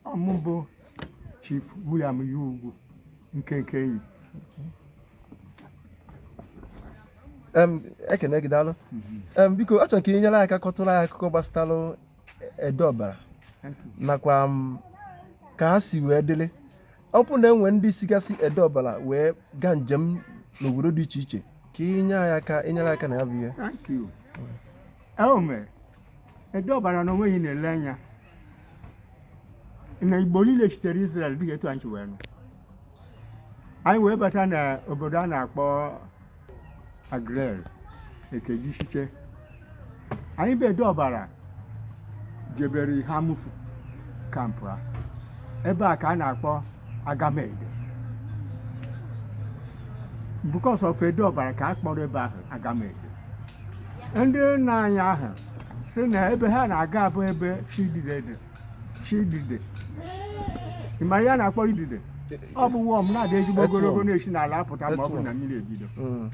ọ mụ bụ Chief William Ugwu nke nke enyi ekene gị daalụ mhm. biko achọrọ ka ị nyere aka kọtụrụ anyị akụkọ gbasara Ede Ọbara nakwa ka ha si wee dịrị ọ bụrụ na e nwe ndị sigasị ede ọbara wee gaa njem n'obodo dị iche iche ka i nyere anyị aka na ya bụ ihe Thank you. Ewu mere ede ọbara na onwe anyị na-ele anya na Igbo niile sitere Israel dịka etu anyị si wee nụ anyị wee bata na obodo a na-akpọ Aguleri e kejishiche anyị bụ Ede Ọbara jebere Eha Amufu kampụa ebe a ka a na-akpọ agamede because of Ede Ọbara ka a kpọrọ ebe ahụ agamede ndị nna anyị ahụ sị na ebe ha na-aga abụ ebe chi idide chi idide ị ma ihe a na-akpọ idide ọ bụ worm na-adị ezigbo ogologo na-esi n'ala apụta ma ọ bụ na mmiri ebido hmm.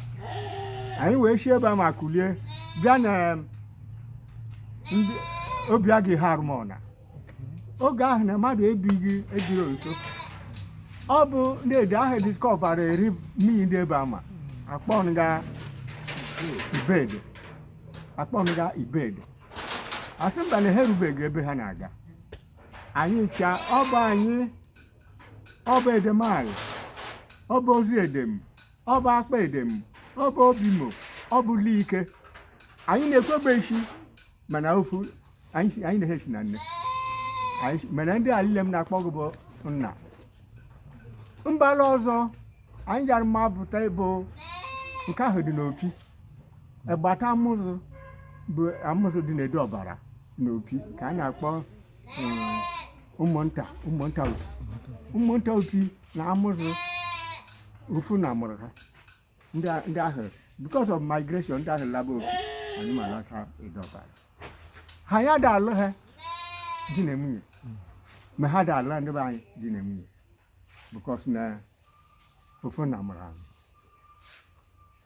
anyị wee si ebe a ma kulie bịa na Obiagụ Eha Alumona oge ahụ na mmadụ ebighị ebiro nso ọ bụ ndị ede ahụ discover eri mmiri ndị ebe ama akpọnga ibede akpọnga ibede a sị mba na ha erubeghị ebe ha na-aga anyị ncha ọ bụ anyị ọ bụ Edem Alị ọ bụ Ozi Edem ọ bụ Akpa Edem ọ bụ Obimo ọ bụ Leke anyị na Ekwegbe si mana ofu anyị si- anyị na ehe si na nne Anyị si- mana ndị alile m na-akpọ gị bụ nna mbala ọzọ anyị jara mapụta bụ nke ahụ dị n'Opi agbata amụzụ bụ amụzụ dị n'Ede Ọbara na opi ka a na-akpọ eh, ụmụnta ụmụnta opi ụmụnta opi na amụzụ ofu nna mụrụ ha ndị a- ndị ahụ because of migration ndị ahụ laba opi anyị ma laka Ede Ọbara ha ya ada alụ ha di na nwunye ma ha ada alụ ndị be anyị di na nwunye because na ofu nna mụrụ anyị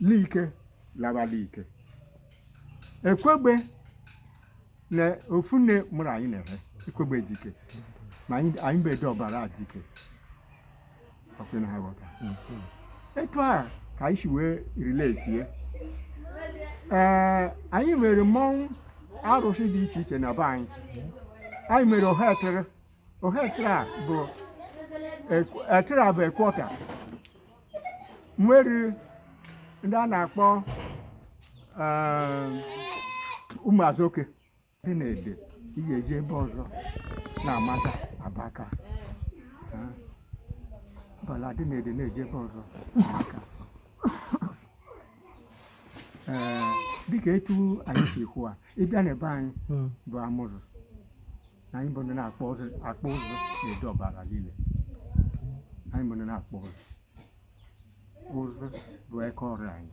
Leke laba Leke Ekwegbe na ofu nne mụrụ anyị na ehe Ekwegbe Dike ma anyị anyị bụ Ede Ọbara Dike ọ kwa ị na-aghọta etu a ka anyị si wee relate ya ee anyị nwere mmọnwụ arụsị dị iche iche na be anyị anyị nwere Ohe Etere Ohe Etere a bụ ekw- etere a bụ ekwọta nwere ndị a na-akpọ ụmụazoke dị n'ede ị ga-eji ebe ọzọ na-amata abaka bala dị n'ede na-eji ebe ọzọ aka dịka etu anyị si kwuo ị bịa n'ebe anyị bụ amụzụ anyị bụ ndị na-akpụ ụzụ akpụ ụzụ n'ede ọbara niile anyị bụ ndị na-akpụ ụzụ ụzụ bụ eka ọrụ anyị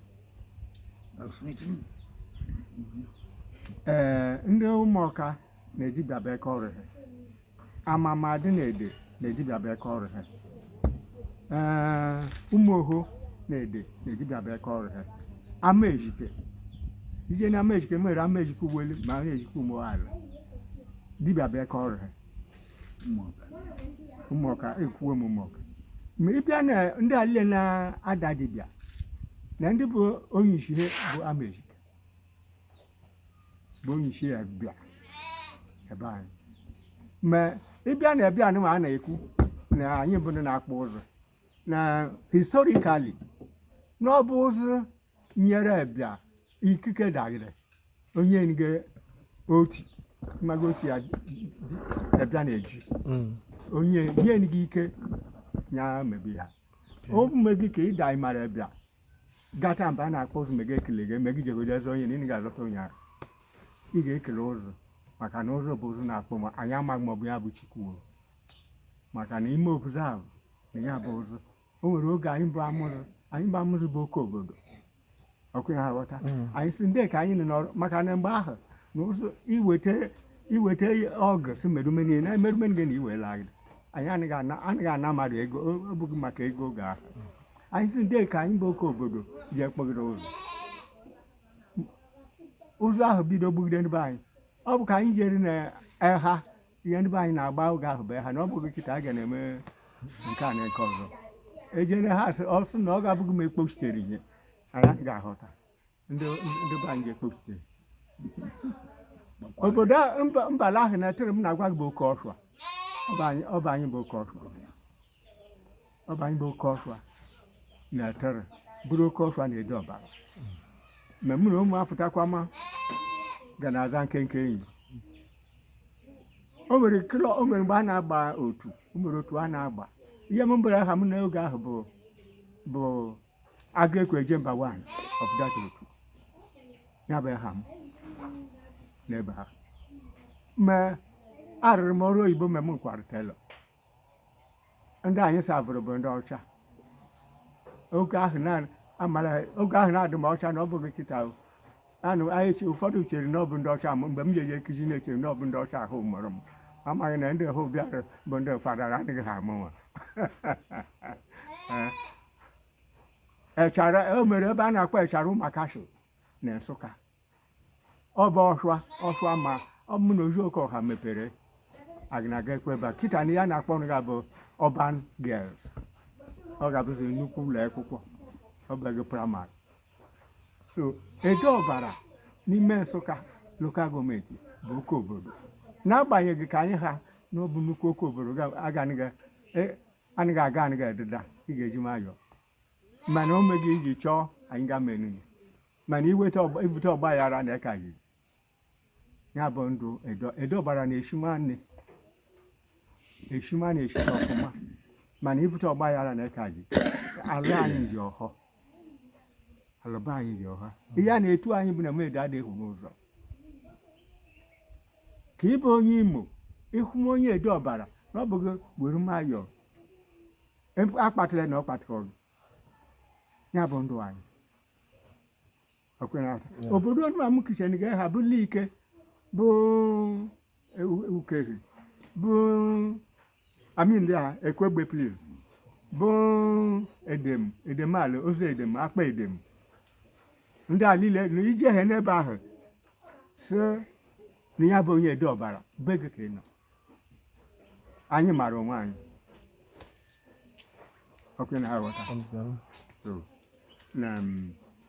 ee ndị ụmụọka na dibịa bụ eka ọrụ ha amama dị n'ede na dibịa bụ eka ọrụ ha ee ụmụ oho n'ede na dibịa bụ eka ọrụ ha amaezike ije na amaezike mere amaezike uwelu ma amaezike ụmụ ala dibịa bụ eka ọrụ ha ụmụọka ekwuwe m ụmụọka ma ị bịa na ndị a lile na-ada dibịa na ndị bụ onye isi ha bụ amaezike bụ onye isi ebia ebe anyị ma ị bịa na ebia anụma a na-ekwu na anyị bụ ndị na-akpụ ụzụ na historically na ọ bụ ụzụ nyere ebia ikike dagide onye nge oti mmaga oti ya di- ebia na-eji Mm. onye nye gị ike ya mebi ha o mmebi ka ịda ịmara bịa gata mba a na-akpụ ụzụ mega ekele gị eme gị jegodo eze onye na ị ga-azọta onye ahụ ị ga-ekele ụzụ maka na ụzụ bụ ụzụ na-akpụ ma anyị amaghị ma ọ bụ ya bụ chukwu maka na ime obuzo ahụ na ya bụ ụzụ o nwere oge anyị bụ amụzụ anyị bụ amụzụ bụ oke obodo ọkụ ya aghọta mm. anyị si ndị ka anyị nọ n'ọrụ maka na mgbe ahụ na ụzụ iweta iweta ọgụ si merume niile na emerume niile na iwela anyị anaghị ana mmadụ ego ọ bụghị maka ego oge ahụ anyị si ndị ka anyị bụ oke obodo ji akpụgide ụzụ ụzụ ahụ bido gbugide ndị be anyị ọ bụ ka anyị jere na eha ihe ndị be anyị na-agba oge ahụ bụ eha na ọ bụghị kịta a ga na-eme nke a na nke ọzọ ejere eha ọ sị na ọ ga-abụghị m ekpochitere ihe anyị ga-ahụta ndị be anyị ga-ekpochite obodo mbala ahụ na-etere m na-agwa gị bụ oke ọhụa ọ bụ anyị bụ oke ọhụa ọ bụ anyị bụ oke ọhụa na-etere bụrụ oke ọhụa n'ede ọbara mgbe mụ na ụmụ apụtakwa ma ga na-aza nkenke enyi o nwere kilo o nwere mgbe a na-agba otu o nwere otu a na-agba ihe m mbere aha m n'oge ahụ bụ bụ agụ ekwe eje mba one ọfụdata otu ya bụ aha m n'ebe ahụ ma arụrụ m ọrụ oyibo mgbe m kwara tailor ndị anyị savụrụ bụ ndị ọcha oge ahụ na- amara oge ahụ na-adị m ọcha na ọ bụghị kịta o. anụ anyị che ụfọdụ chere na ọ bụ ndị ọcha m mgbe m jeje nkụzi na-echere na ọ bụ ndị ọcha ahụ mụrụ m amaghị na ndị ahụ bịara bụ ndị fada adịghị ha amụ nwa echara o mere ebe a na-akpọ echara ụmakashi na nsụka ọ bụ ọhịa ọhịa ma ọ mụ na ozuoke ọha mepere agụ na-aga ekweba kịta na ya na-akpọ nụ ya bụ Urban Girls ọ ga-abụzi nnukwu ụlọ akwụkwọ ọ bụghị primary so Ede Ọbara n'ime nsụka local government bụ oke obodo n'agbanyeghị ka anyị ha na ọ bụ nnukwu oke obodo ga- agaghị e- anyị ga-aga anyị ga-ededa ị ga-eji nwayọọ mana o meghị iji chọọ anyị ga menu ya mana iweta ọgba- ibute ọgba aghara na eka yiri ya bụ ndụ Ede Ede Ọbara na eshi nwanne eshi nwanne eshi na ọfụma mana ibute ọgba aghara na eka ji ala anyị ji ọhọ alụba anyị ji ọha ihe a na-etu anyị bụ na mmedo adịghị n'ụzọ ka ị bụ onye imo ị hụ onye Ede Ọbara na ọ bụghị were nwayọọ akpatụla na ọ kpatụrụ ya bụ ndụ anyị obodo nna m kichin ga ha bụ Like bụ Ukehe bụ I mean ekwegbe please bụ edem edem ala Ozi Edem akpa edem ndị a niile na ije ha n'ebe ahụ sị na ya bụ onye ede ọbara be gị ka ị nọ anyị mara onwe anyị ọkụ na aghọta So, na mm,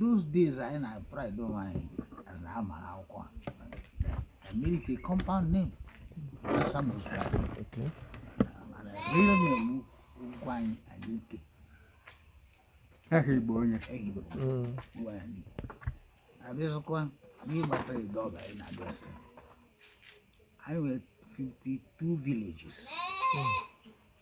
those days anyị na pride onwe anyị as na ama akwụkwọ I made it a compound name Samuel's pride okay. mana real name Ugwuanyị Anike aha Igbo onye aha Igbo Ugwuanyị abịazụkwa n'ihe gbasara Ede Ọba anyị na-abịa ọsọ anyị nwere 52 villages mm.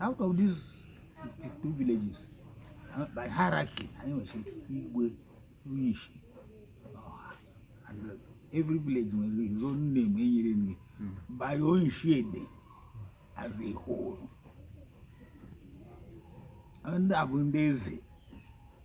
out of these 52 villages uh, by hierarchy anyị nwere igwe onyishi and every village nwere his own name enyere nri hmm. bụ onyishi Ede as a whole ndị a bụ ndị eze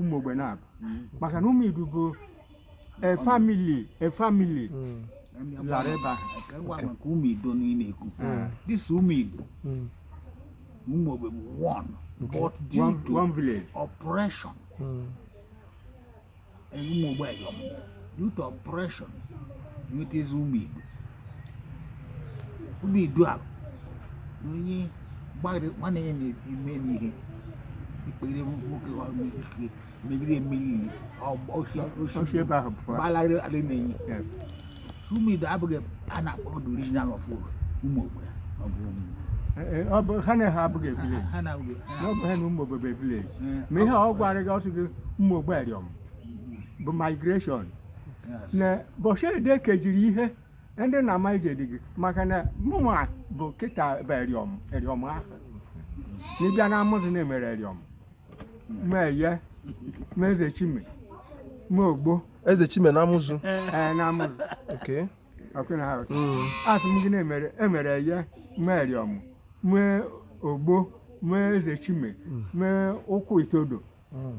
ụmụ ogbe na abụ maka na ụmụ idu bụ a family a family lara ebe ahụ Ka ngwa maka ụmụ idu na ị na-ekwu this ụmụ idu ụmụ ogbe bụ one but due one, to one village oppression ụmụ ogbe eriọm due to oppression nwetazi ụmụ idu ụmụ idu ala na onye gbagharị nwanne ya na-eme n'ihe ikpere nwoke ike megide emegide o si ebe ahụ gbalagharị ala na-enye ụmụ idu abụghị a na-akpọ the original of ụmụ ogbe ọ bụ ụmụ ọ bụ ha na ha abụghị village na ọ bụ ha na ụmụ ogbe bụ village ma ihe ọ gwara gị ọ sị gị ụmụ ogbe eriọm bụ migration na bọshị ede kejiri ihe ndị na ama ije dị gị maka na mụnwa bụ kịta bụ eriọm eriọm ahụ ị bịa na amụzụ na-emere eriọm ma eye ma eze chime ma ogbo eze chime na amụzụ ee na amụzụ okay ọkwa ị na-ahụ mm. asị m gị na-emere eye mee eriọm mee ogbo mee eze chime mm. mee ụkwụ itodo mm.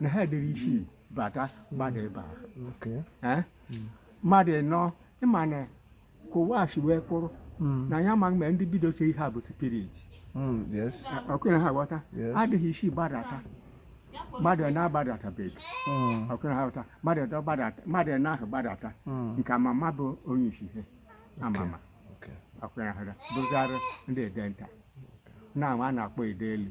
na ha dịrị isi bata mmadụ ebe ahụ mmadụ ịnọ ịma na ka ụwa si wee kwụrụ hmm. na ya ma mgbe ndị bido chere ha bụ spirit hmm, ọkụna ha ghọta adịghị isi gbadata mmadụ na-agbadatabeghị hmm. ọkụna ha ghọta mmadụ na ahụ gbadata nke amama bụ onye isi ihe amama ọkwa na ha bụzara ndị edenta na a na-akpọ ede elu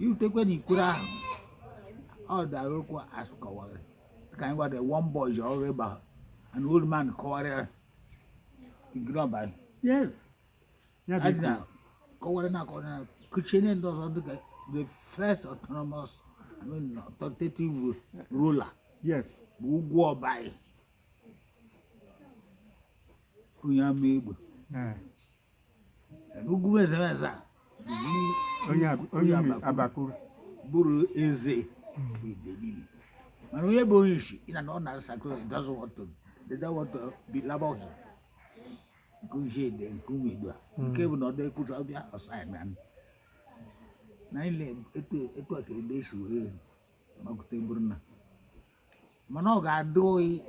i rutekwe na ikwere ahụ ọ dara okwu asị kọwara ka anyị gwada one boy ji ọrụ ịba an old man kọwara ya igiri ọba ya yes ya bụ adị na ikwu. kọwara na akọwara na kuchie ndị ọzọ dịka the first autonomous I mean, authoritative ruler yes bụ ugwu ọbayi onye amaegbu Eh, ugwu eze eze onye abakuru bụrụ eze idebili mana onye bụ onye isi ịna na ọ na-asakụ don't want to don't want to belabour him nke uche ede nke ụmụ idu a hmm. nke bụ na ọdọ ekwucha ọ bịa ọ saa ya na na ile etu a ka ede si wee makọta bụrụ na mana ọ ga-adị ọyị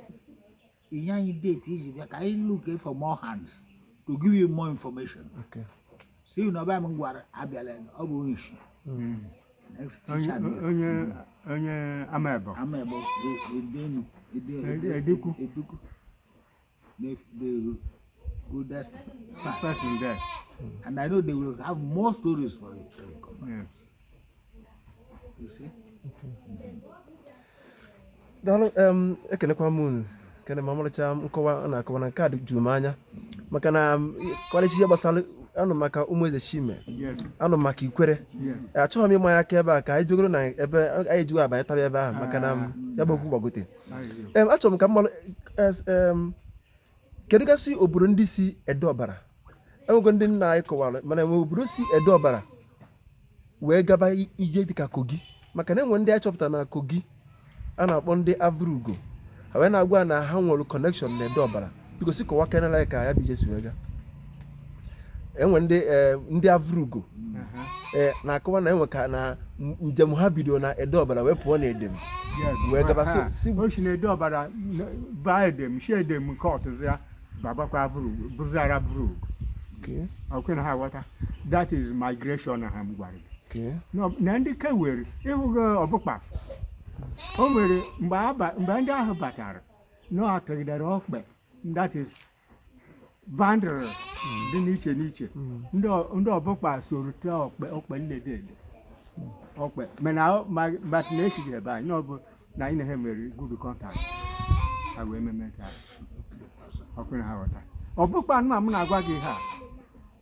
ị nye anyị date i ji bịa ka anyị look for more hands to give you more information Okay. si na ọba m gwara abịala ọ bụ onye isi Mm. next Onye teacher dị onye onye amaegbu. amaegbu ede enu Ede ukwu. ede ukwu the, the oldest person there. And I know they will have more stories for you. Yes. You see? daalụ em, ekelekwa m unu kene ma ọmarịcha nkọwa a na-akọwa na nke a dị juru m anya maka na m, kọleji ihe gbasara anụ maka ụmụ ezechima Yes. anụ maka ikwerre Yes. achọghị m ịma ya aka ebe a ka anyị jegoro na ebe anyị ejighị abanye taba ebe ahụ maka na m, ya bụ okwu gbagote Em, achọrọ m ka m mara es- em, kedu gasị obodo ndị si ede ọbara enwego ndị nna anyị kọwara mana enwe obodo si ede ọbara wee gaba i- ije dịka kogi maka na enwe ndị anyị chọpụtara na kogi a na-akpọ ndị avrugo ha wee na-agwa na ha nwere connection na ede ọbara biko si kọwakenelụ anyị ka ya bụ ije si wee gaa enwe ndị eh, ndị avrugo uh-huh. eh, na-akọwa na enwe ka na njem ha bido na ede ọbara wee pụọ na edem wee gaba uh-huh. si na ede ọbara baa edem si edem nke ọtụzụ ya babakwa avrugo bụzi ara avrugo ọkwa ị na-aghọta that is migration ahụ m gwara gị na ndị ke were ị hụgo ọbụkpa o nwere mgbe ndị ahụ batara na-atụgidere ọkpe that is band dị n'iche n'iche ndị ọ- ndị ọbụkpa soro tụọ ọkpe ọkpe nlede ede ọkpe mana ọ- ma- ma na esighị ebe anyị ọ bụ na anyị na ha mere good contact ha wee meme ka ọkwa ị na-aghọta ọbụkpa nụnwa m na-agwa gị ha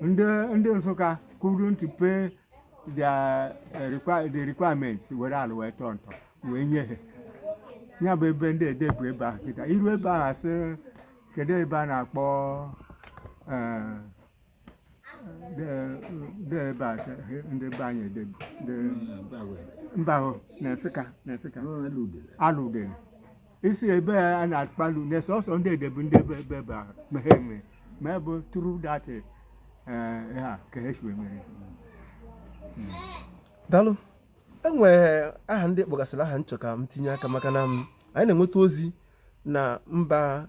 ndị ndị nsụka couldn't pay their eh, require- the requirements were ala wee tọọ ntọ wee nye ha ya bụ ebe ndị ede bu ebe ahụ kịta iru ebe ahụ asị kedu ebe a na-akpọ eh, de- de ebe a ka he- ndị be anyị ede bụ, de- mba ahụ na nsụka na nsụka aludele isi ebe a na-akpalu na sọsọ ndị ede bụ ndị ebe ebe ebe ahụ ma ha enwe ma ebe true that ha ka ha si wee mere daalụ enwere aha ndị ị kpọgasịrị aha m chọ ka m tinye aka maka na m- anyị na-enweta ozi na mba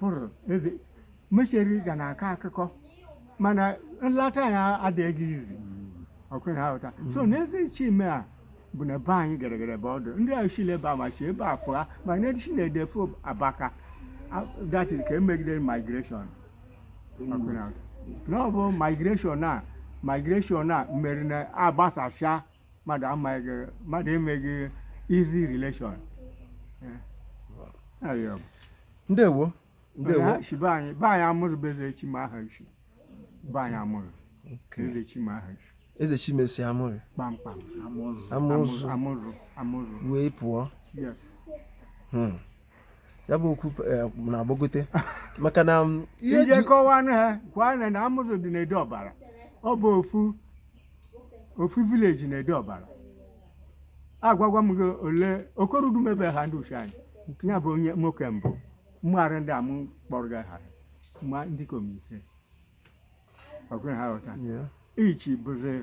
fụrụ eze mecheri ga na-akọ akụkọ mana nlata ya adịghị easy ọkwa ị na-aghọta so na ezechima a bụ na be anyị gara gara ebe ọ dụ ndị a shile ebe a ma shi ebe a fụa ma na eshi na ede fụ abaka A- that is ka emegide migration ọkwa ị na-aghọta. na ọ bụ migration a migration a mere na agbasasịa mmadụ amaghị gị mmadụ emeghị easy relation ayọm ndewo ndewo ha si be anyị be anyị amụzụ bụ ezechima ha si be anyị amụzụ Okay. ezechima ha si ezechima si amụzụ kpamkpam amụzụ amụzụ amụzụ amụzụ wee pụọ yes Hmm. ya bụ okwu eh, na-agbagote maka na mm, ihe ije ji kọwanụ ha gwa na na amụzụ dị n'ede ọbara ọ bụ ofu ofu village n'ede ọbara agwago m gị ole okorudu mebe ha ndị ichie anyị ya bụ onye nwoke mbụ mụrụ ndị a m kpọrọ gị aha ma ndịkom ise ọkwa ị na-aghọta Yeah. ichi bụzi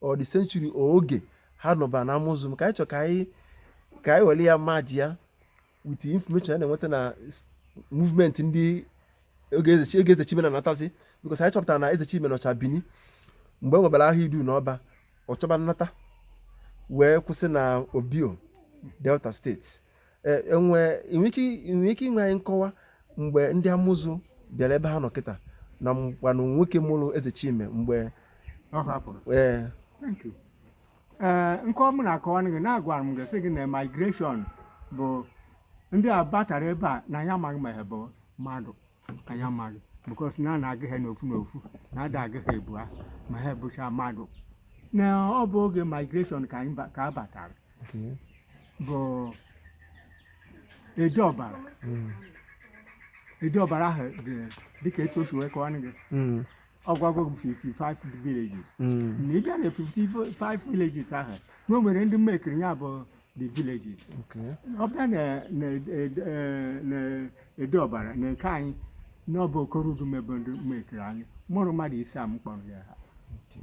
or the century oge ha nọba na amụzụ m ka anyị chọ ka anyị ka anyị were ya merge ya with information a na-enweta na movement ndị oge eze chime na anatazi because anyị chọpụtara na eze chime nọcha bini mgbe e nwebara agha idu na ọba ọ chọba nnata wee kwụsị na obior delta state E, enwe nwere ike inye anyị nkọwa mgbe ndị amụzụ bịara ebe ha nọ kịta na mgbanụ nwoke mụrụ eze chime mgbe ọ hapụrụ ee ee nkọwa m na-akọwa gị na-agwara m gị sị gị na migration bụ ndị a batara ebe a na ya amaghị ma ha bụ mmadụ ka ya amaghị because na a na-agụ ha n'ofu n'ofu na ada agụ ha ebu ha ma ha bụcha mmadụ na ọ bụ oge migration ka ha batara Okay. bụ ede ọbara Mm. ede ọbara ahụ dị dịka etu o si wee kọwa gị Mm. ọ gwago bụ 55 villages Mm. na ị bịa na 55 villages ahụ na o nwere ndị mmekiri ya bụ the villages Okay. ọ bịa na- na ed- eh, na ede ọbara na nke anyị na ọ bụ okorudu mebe ndị mmekiri anyị mụrụ mmadụ ise a m kpọrọ gị aha Okay.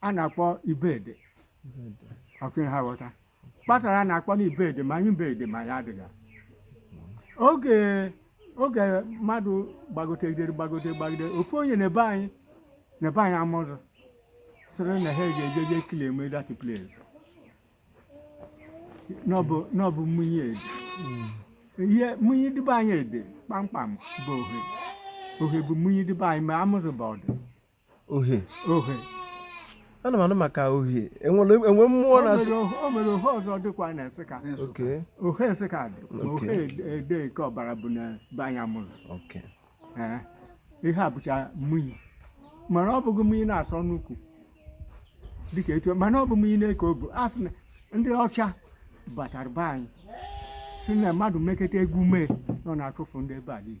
a na-akpọ ibede ọkwa ị na-aghọta kpatara a na-akpọ na ibede ma anyị ibede ma ya adịghị oge oge mmadụ gbagotegidere gbagode gbagide ofu onye na be anyị na be anyị amụzụ sịrị na ha ga-eje je claim that place na ọ bụ na ọ bụ mmụnye ede ihe mmụnye dị be anyị ede kpamkpam bụ ohe ohe bụ mmụnye dị be anyị ma amụzụ bụ ọdụ ohe ohe ana m anụ maka ohe enwere enwe mmụọ O na-asụ nwere o nwere ohe ọzọ dịkwa na nsụka Okay ohe nsụka dị ma ohe Okay. ede- ede nke ọbara bụ na be anyị amụzụ Okay Ee, ihe a bụcha mmụnyi mana ọ bụghị mmụnyi na-asọ nnukwu dịka etu mana ọ bụ mmụnyi na-eke obu a sị na ndị ọcha batara be anyị si na mmadụ meketa egwu mee na ọ na-atụfu ndị ebe a niile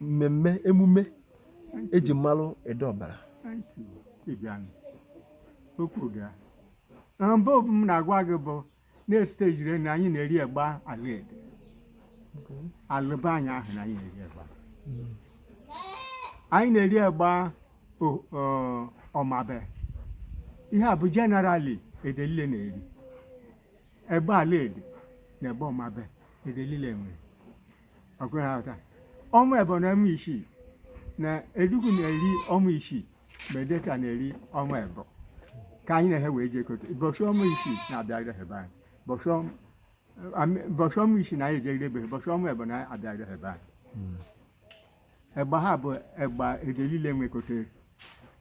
mmemme emume eji malụ ede ọbara okwu ga mbụ m na-agwa gị bụ na-esite jire na anyị na-eri egba ala ede ala be anyị ahụ na anyị na-eri egba hmm. anyị na-eri egba ọmabe ihe a bụ generally ede lile na-eri egba ala ede na egba ọmabe ede lile nwere ọ kwa ị na-aghọta ọnwa ebọ na ọnwa isii na ede ukwu na-eri ọnwa isii ma ede nta na-eri ọnwa ebọ ka anyị na ha wee jekote bọchị ọnwa isii na-abịagide ha ebe anyị bọchị ọnwa ami- bọchị ọnwa isii na anyị ejegide ebe ha bọchị ọnwa ebọ na-abịagide ha ebe anyị egba ha bụ egba ede lile nwekotere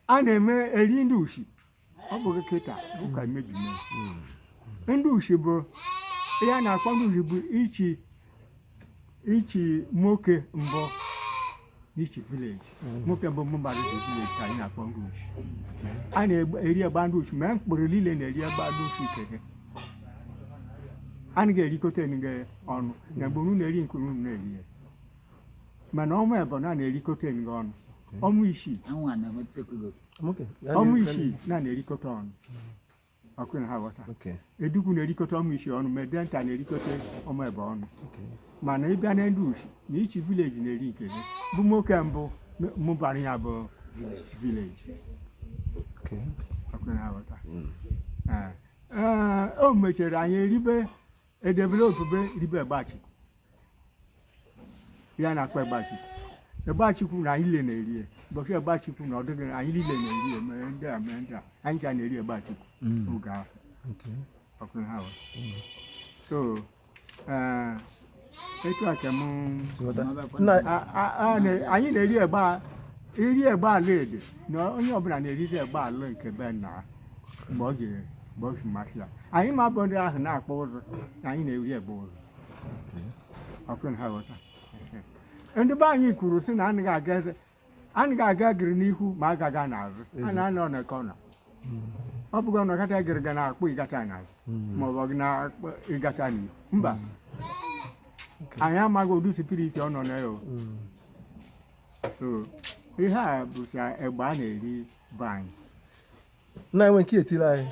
a na-eme eri ndị ushi ọ bụghị kịta ụka mebi ndị ushi bụ ihe a na-akpọ ndị ushi bụ each each nwoke mbụ n'each village nwoke mbụ mụbara village ka anyị na-akpọ ndị ushi a na-eri egba ndị ushi ma mkpụrụ niile na-eri egba ndị ushi keke a naghị erikọta nga ọnụ na mgbe unu na-eri nke unu na-eri ya mana ọnwa ebọ na na-erikọta nga ọnụ ọnwa isii ọnwa isii na na-erikọta ọnụ ọ kwa ị na-aghọta ede ukwu na-erikọta ọnwa isii ọnụ ma ede nta na-erikọta ọnwa ebọ ọnụ mana ị bịa na ndị ushi na each village na-eri nke gị bụ nwoke mbụ mụbara ya bụ village ọ kwa ị na-aghọta hmm. o mechara anyị eribe edevelopube ribe egba chukwu ihe a na-akpọ egba chukwu egba chukwu na anyị niile na-eri ya ụbọchị egba chukwu na-adị anyị niile na-eri ya ma ndị a ma ndị a anyị ka na-eri egba chukwu oge ahụ Okay. ọ kwa ị na-aghọta so eh, etu a ka mụ Ghọta. Nna A- a- a na- anyị na-eri egba a- iri egba ala ede na onye ọbụla na-eriri egba ala nke be nna ha mgbe ọ ga-eri bọchị masịrị ya anyị ma bụ ndị ahụ na-akpụ ụzụ na anyị na-eri egba ụzụ ọ kwa ị na-aghọta ndị be anyị kwuru sị na anaghị aga eze anaghị aga egụrụ n'ihu ma a gaghị aga n'azụ a na-anọ na corner ọ bụghị na ọ kata egụrụ ga na-akpụ ị gata n'azụ ma ọ bụ gị na-akpụ ị gata n'ihu mba anyị amaghị ụdị spirit ọ nọ na ya o. So, ihe a bụcha egba a na-eri be anyị na enwe nke etiri anyị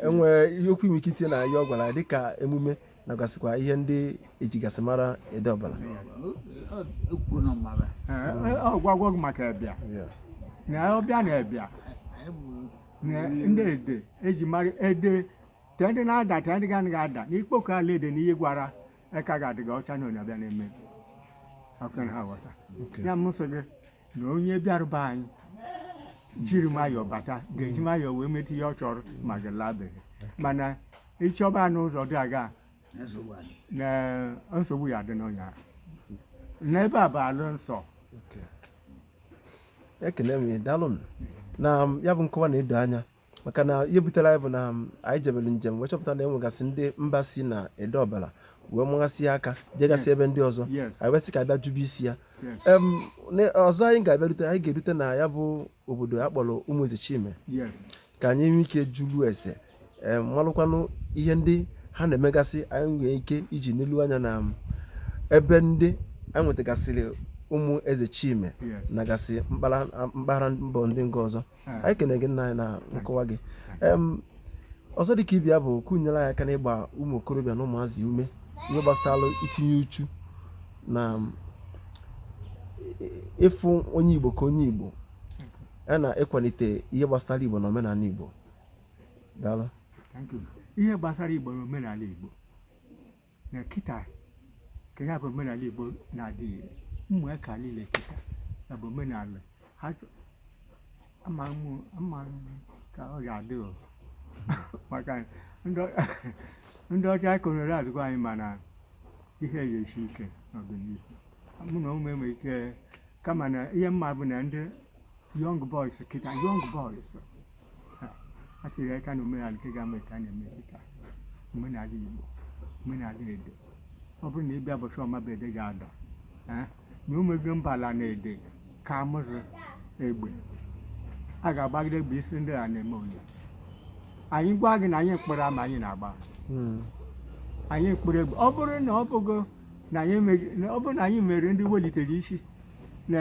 enwe ihe okwu inwe ike itinye na ihe ọ gwara dịka emume na gasịkwa ihe ndị ejigasị mara Ede Ọbala ọ gwago gị maka ebịa na ọbịa na ebịa na ndị ede eji mara ede te ndị na-ada te ndị ga ga ada na ikpoko ala ede na ihe gwara eka ga-adịga ọcha na onye ọbịa na-eme ọkwa ị na-aghọta ihe mụ sị gị na onye bịara be anyị jiri nwayọọ bata ga-eji nwayọọ wee meta ihe ọ chọrọ ma gị labe mana ị chọba n'ụzọ dị aga na nsogbu ya dị n'ọnya n'ebe a bụ ala nsọ ekele m gị daalụ na ya bụ nkọwa na-edo anya maka na ihe butere anyị bụ na um, anyị jebere njem wee chọpụta na e nwegasị ndị mba si na Ede Ọbala wee mụghasị aka jegasị ebe ndị ọzọ anyị wee sị ka a bịa jụbe isi ya ọzọ anyị ga-abịarute anyị ga-erute na ya bụ obodo a kpọrọ Ụmụ Ezechime ka anyị nwee ike jụlụ ese malụkwanụ ihe ndị ha na-emegasị anyị nwee ike iji nelu anya na um, ebe ndị anyị nwetagasịrị ụmụ Ezechime nagasị mpaghara mba ndị nke ọzọ anyị kene gị nna anyị na nkọwa gị ọzọ dị ka ibe ya bụ ka ị nyere anyị aka n'ịgba ụmụ okorobịa na ụmụazị ume ihe gbasara itinye uchu na ịfụ onye igbo ka onye igbo ya na ịkwalite ihe gbasara igbo na omenala igbo daalụ ihe gbasara igbo na omenala igbo na kịta ka ya bụ omenala Igbo na-adịghị ụmụaka niile kịta ya bụ omenala ha chọ- ama m ama m ka ọ ga-adị o maka ndị ọ- ndị ọcha konere azụkwa anyị mana ihe ga-esi ike n'ọdịnihu mụ na ụmụ enwe ike kama na ihe m ma bụ na ndị young boys kịta young boys a tiri aka na omenala nke ga-eme ka a na-eme kịta omenala Igbo omenala Ede ọ bụrụ na ị bịa ụbọchị Ọmabe Ede ji ada eh, na omego mba ala na Ede ka amụzụ egbe a ga-agbagide egbe isi ndị a na-eme onye anyị gwa gị na anyị mkpụrụ ama anyị na-agba hmm. anyị mkpụrụ egbe ọ bụrụ na ọ bụgo na anyị meri ndị welitere isi na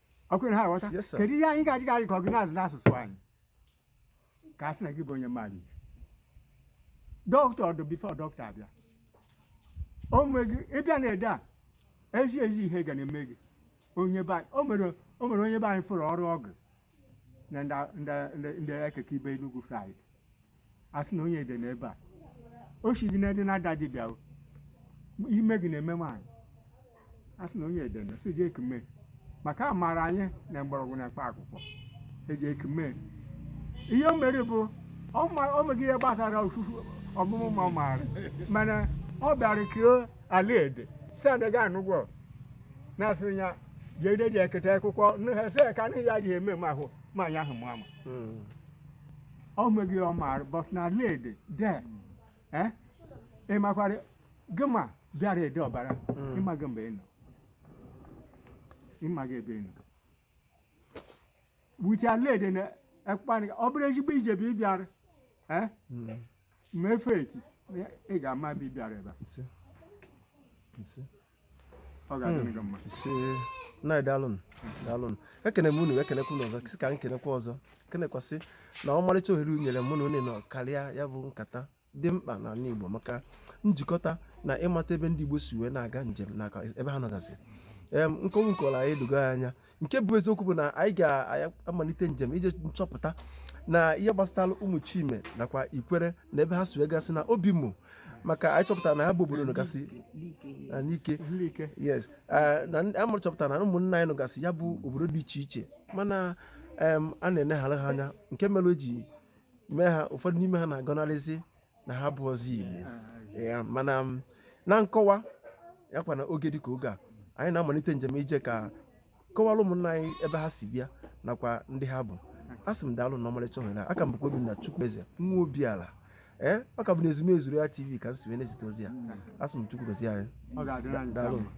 ọkwa ị na-aghọta Yes, sir. kedu ihe anyị ga-eji garị ka ọ gị na-asụ n'asụsụ anyị ka a sị na gị bụ onye mmadụ ibe doctor ọdụ before doctor abịa o nwee gị ịbịa na ede a ezi ezi ihe ga na-eme gị onye be anyị o nwere o nwere onye be anyị fụrụ ọrụ ọgụ na ndị ndị ndị ekeke ibe Enugu side a sị na onye Ede n'ebe a o si gị n'ebe na-ada dibịa o ime gị na-eme nwaanyị a sị na onye Ede na so eji ekume maka a maara anyị na mgbọrọgwụ na mkpa akwụkwọ eji ekume ihe o mere bụ ọ ma- o meghị ihe gbasara ofufu ọmụmụ ma ọ maara mana ọ bịara kee ala Ede si adaghị anụgwọ na-asị ya je Ede je kete akwụkwọ nụ ha sị ya ka n'ihi ya adịghị eme m ahụ ma anyị ahụ mụ ama Mm. o nweghị ihe ọ maara but n'ala Ede eh? ị makwara gị ma bịara Ede Ọbara ị maghị mgbe ị nọ ị maghị ebe ị nọ but ala Ede na ekpani ọ bụrụ ezigbo ije bụ ịbịara eh? ma efe eti ị ga-ama bụ ịbịara ebe a. Nse. Nse. ọ ga-adị gị mma ise na daalụnụ daalụnụ ekene m unu ekenekwa unu ọzọ sị ka m kenekwa ọzọ kenekwasị na ọmarịcha ohere unu nyere mụ na unu nọ karịa ya bụ nkata dị mkpa n'ala Igbo maka njikọta na ịmata ebe ndị Igbo si wee na-aga njem na ebe ha nọgasị em nkọwa unu kọrọ anyị edogo ya anya nke bụ eziokwu bụ na anyị ga-amalite njem ije nchọpụta na ihe gbasatara Ụmụchime nakwa Ikwere na ebe ha si wee gasị na Obimo maka anyị chọpụtara na ha bụ obodo nọgasị na Nike Nike. yes eh, na ndị- amụrụ chọpụtara na ụmụnna anyị nọgasị ya bụ obodo dị iche iche mana em, a na-eneghara ha anya nke mere o ji mee ha ụfọdụ n'ime ha na-agọnarịzi na ha abụrọzị Igbo ya mana m, na nkọwa ya kwa na oge dịka oge a anyị na-amalite njem ije ka kọwara ụmụnna anyị ebe ha si bịa nakwa ndị ha bụ a sị m daalụ na ọmarịcha ohere a. a ka m bụkwa Obinna Chukwueze nwa Obiala ee ọ ka bụ na Ezumezu ya TV ka m si wee na-ezite ozi ya a sị m Chukwu gozie anyị ọ ga-adịrị anyị Daalụ. mma.